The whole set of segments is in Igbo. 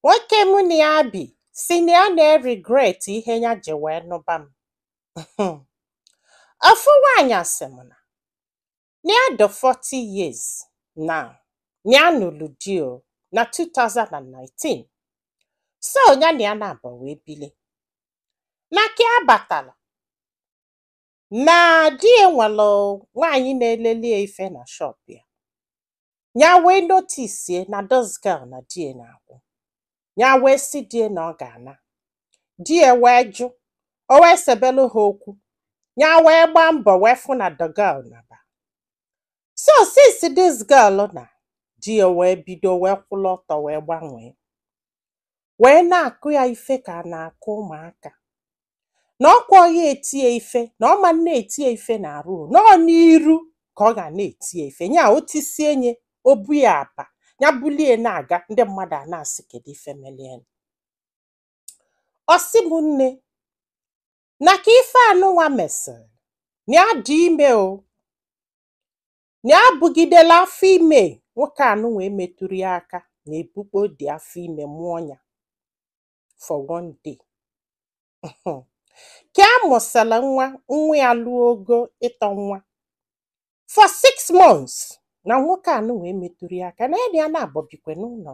Nwoke mụ na ya bi sị na ya na-eregret ihe ya ji wee nụba m. Ofu nwaanyị sị m na na ya dị 40 years now, na ya nụrụ di o na 2019. So ya na ya naabọ wee bili. Na ka ya batala, na di ya nwere nwaanyị na-eleli ya ife na shop ya ya wee notice na this girl na di ya na-akwụ ya wee sị di ya na ọ ga-ana di ya wee jụ o wee sebelu ha okwu ya wee gbaa mbọ wee fụ na the girl naba so since this girl naa di ya wee bido wee kwụlụ ọtọ wee gbanwee wee na-akụ ya ife ka a na-akụ ụmụaka na ọ kwa ọ ya-eti ya ife na ọ ma na-eti ya ife n'arụ na ọ n'iru ka ọ ga na-eti ya ife nya o tisie nya o bu ya apa ya bulie na-aga ndị mmadụ a na-asị kedu ife meli ya ọ sị m nne na ka ife anụnwa mesịrị na ya dị ime o na ya bugidela afọ ime nwoke anụnwa emetụrọ ya aka na ebukpo dị afọ ime mụọ ya for one day ka a mụsịrị nwa nwa ya lụọ ogo ịtọ nwa for six months na nwoke anụnwa emetụrọ ya aka na ya na ya naabọ bikwa n'ụlọ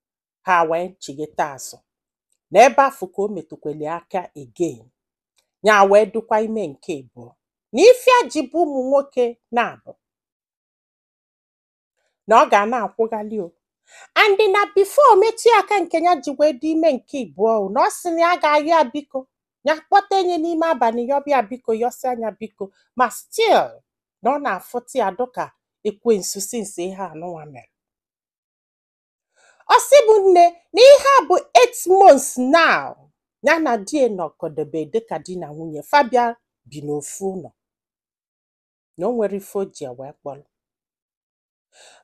ha wee chigeta azụ na ebe afụ ka o metụkwali aka again ya wee dụkwa ime nke abụọ na ife ya ji bụ ụmụ nwoke naabọ na ọ ga na-akwụghalị o and na before o metụ ya aka nke ya ji wee dị ime nke abụọ o na ọ sị na ya ga-ayọ ya biko ya kpọtee nya n'ime abalị yọba ya biko yọsịa nya biko ma still na ọ na-afụta ya dụka ekwensu since ihe anụnwa mere ọ sị mụ nne na ihe a bụ 8 months now ya na di ya nọkọdebe dịka di na nwunye fa bịa bi n'ofu ụlọ na o nwerọ ife o ji ya wee kpọrọ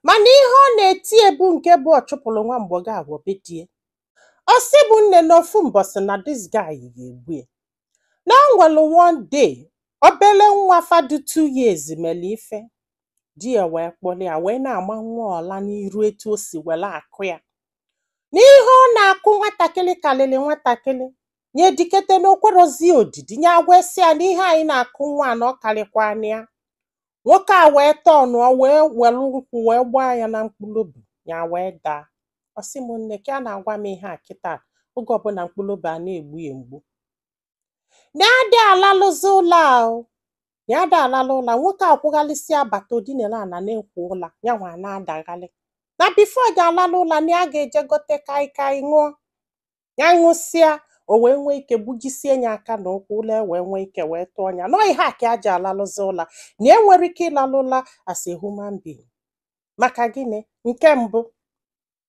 mana ihe ọ na-eti ya bụ nke bụ ọ chụpụrụ nwa agbọghọ ahụ be di ya ọ sị mụ nne na ofu mbọsị na this guy ga-egbu ya na o nwere one day obele nwa fa dụ 2 years mere ife di ya wee kpọrọ ya wee na-ama nwa ọla n'iru etu o si were akụ ya na ihe ọ na-akụ nwatakịrị karịrị nwatakịrị nya edikete na o kwerọzi odidi nya agwasị ya na ihe a ị na-akụ nwa na ọ karịkwana ya nwoke a wee turnụọ wee were ụkwụ wee gbaa ya na mkpụrụ obi ya wee daa ọ sị m nne ka ya na-agwa m ihe a kịta oge ọbụla mkpụrụ obi a na-egbu ya mgbu na ya adị alalụzi ụla o na ya adị alalụ ụla nwoke akwụghalịsịa bata o dinelụ ana na-ekwo ụla ya nwa na-adaghalị na before ya alalụ ụla na ya ga-eje gote kaikai ṅụọ ya ṅụsịa o wee nwee ike gbujisie ya aka na ụkwụ ụla ewee nwee ike wee tụọ ya na ọ ihe a ka ya ji alalụzi ụla na enwero ike ịlalụ ụla as a human being maka gịnị nke mbụ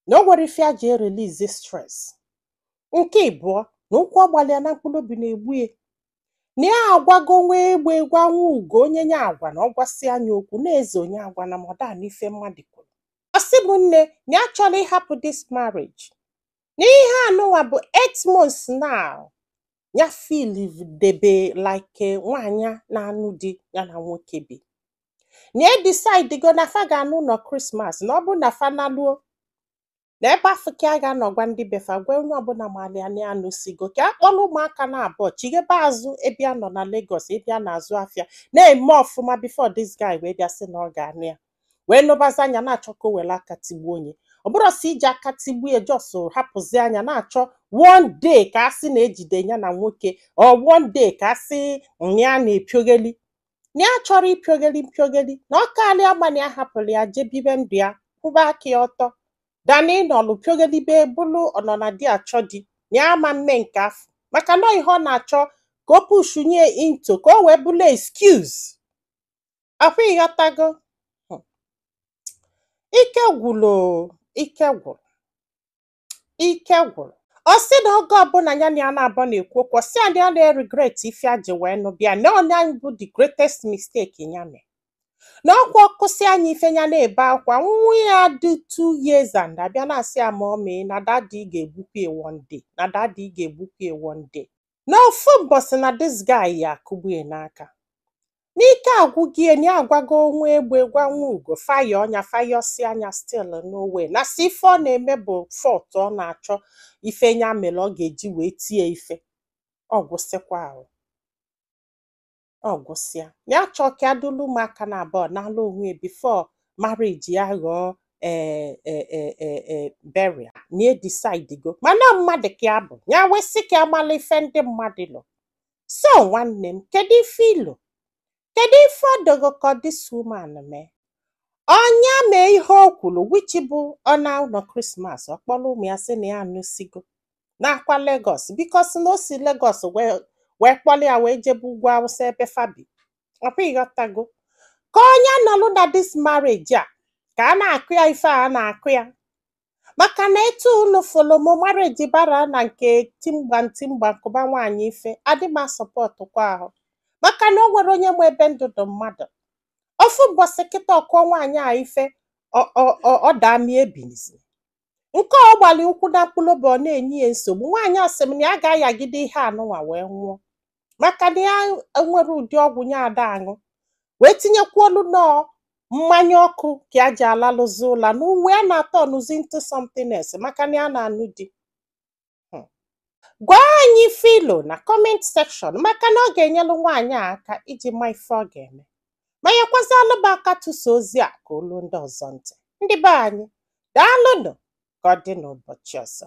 na o nwero ife ya ji erelease stress nke ịbụọ na ụkwụ ọgbalịa na mkpụrụ obi na-egbu ya na ya agwago nwa egbe gwa nwa ugo onye nya agwa na ọ gwasịa nya okwu na eze onye agwana m ọ da anụ ife mmadụ kwuru ọ sị m nne na ya chọrọ ịhapụ this marriage na ihe anụnwa bụ 8 months now ya feel debe like nwaanyị na-anụ di ya na nwoke bi na edecidego na fa ga-ana ụnọ Christmas na ọ bụ na fa naluo na ebe afụ ka ya ga-anọ gwa ndị be fa gwa onye ọbụla malị ya na ya anụsịgo ka ya kpọrọ ụmụaka na abụọ chighebe azụ ebe ya nọ na Lagos ebe ya na-azụ afịa na-eme ọfụma before this guy wee bịa sị na ọ ga-anụ ya wee nụbazịa nya na-achọ ka o were aka tigbuo nya ọ bụrọ si iji aka tigbue just hapụzịa nya na-achọ one day ka a sị na ejide ya na nwoke or one day ka a sị na ya na-epiogeli na ya achọrọ ịpịogeli mpịogeli na ọ karị ya mma na ya hapụrụ ya jee bibe ndụ ya kwụba aka ya ọtọ than ịnọlụ pịogelibe bụlụ ọnọ na di achọ di na ya ama eme nke afụ maka na ihe ọ na-achọ ka o push nya into ka o wee bụlụ excuse afụ ị ghọtago ike gwụrụ ike gwụrụ ike gwụrụ ọ sị na oge ọbụla ya na ya naabọ na-ekwu okwu ọ sị ya na ya na-regret ife ya ji wee nụba ya na onye anyị bụ the greatest mistake ya mee na ọkwa ọ kụsịa nya ife ya na-ebe akwa nwa ya dị two years ana-abịa na-asị ya mummy na daddy ga-egbukwa ya one day na daddy ga-egbukwa ya one day na ofu mbọsị na this guy ya-akụgbu ya n'aka na ike agwụgo ya na ya agwago nwa egbe gwa nwa ugo fa ayọọ nya fa yọsịa nya still no way na si ife ọ na-eme bụ fault ọ na-achọ ife nya mere ọ ga-eji wee tie nya ife ọ gwụsịkwa ahụ ọ gwụsịa ya chọọ ka ya dulu ụmụaka na abụọ n'ala onwe ya before marriage ya ghọọ ee ee ee ee ee burial na edecidego mana mmadụ ka ya bụ ya wee sị ka ya mala ife ndị mmadụ lo so nwanne m kedu ife i lo kedu ife ọ dị gị ka this woman mee ọ nya mee ihe o kwuru which bụ ọ naa ụnọ Christmas ọ kpọrọ ụmụ ya sị na ya anụsịgo n'akwa Legọs because na o si Legọs wee kpọrọ ya wee jebe ugwu awụsa ebe fa bi ọ kwa ị ghọtago ka onye nọlụ na this marriage a ka a na-akụ ya ife a na-akụ ya maka na etu unu fụlụ m marriage bara na nke timgba timgba nkụba nwaanyị ife adị m a-support kwa ahụ maka na o nwere onye ma ebe ndụ dụ mmadụ ofu mbọsị kịta ọ kụọ nwaanyị a ife ọ- ọ- ọ- ọ daa mie ebinizi nke ọ gbalị ụkwụ na mkpụlụba ọ na-enye ya nsogbu nwaanyị a sị m na ya ga-ayagide ihe anụnwa wee nwụọ maka na ya enwere ụdị ọgwụ nya ada aṅụ wee tinyekwa olu na ọ mmanya ọkụ ka ya ji alalụzi ụla na ụwa ya na-aturnụzi into something else maka na ya na-anụ di Hmm. gwa anyị ife i lo na comment section maka na ọ ga-enyelụ nwaanyị a aka iji ma ife ọ ga-eme ma nyekwazịalụ ba aka tụsa ozi a ka o lu ndị ọzọ ntị ndị be anyị daalụnụ ka ọ dị n'ụbọchị ọzọ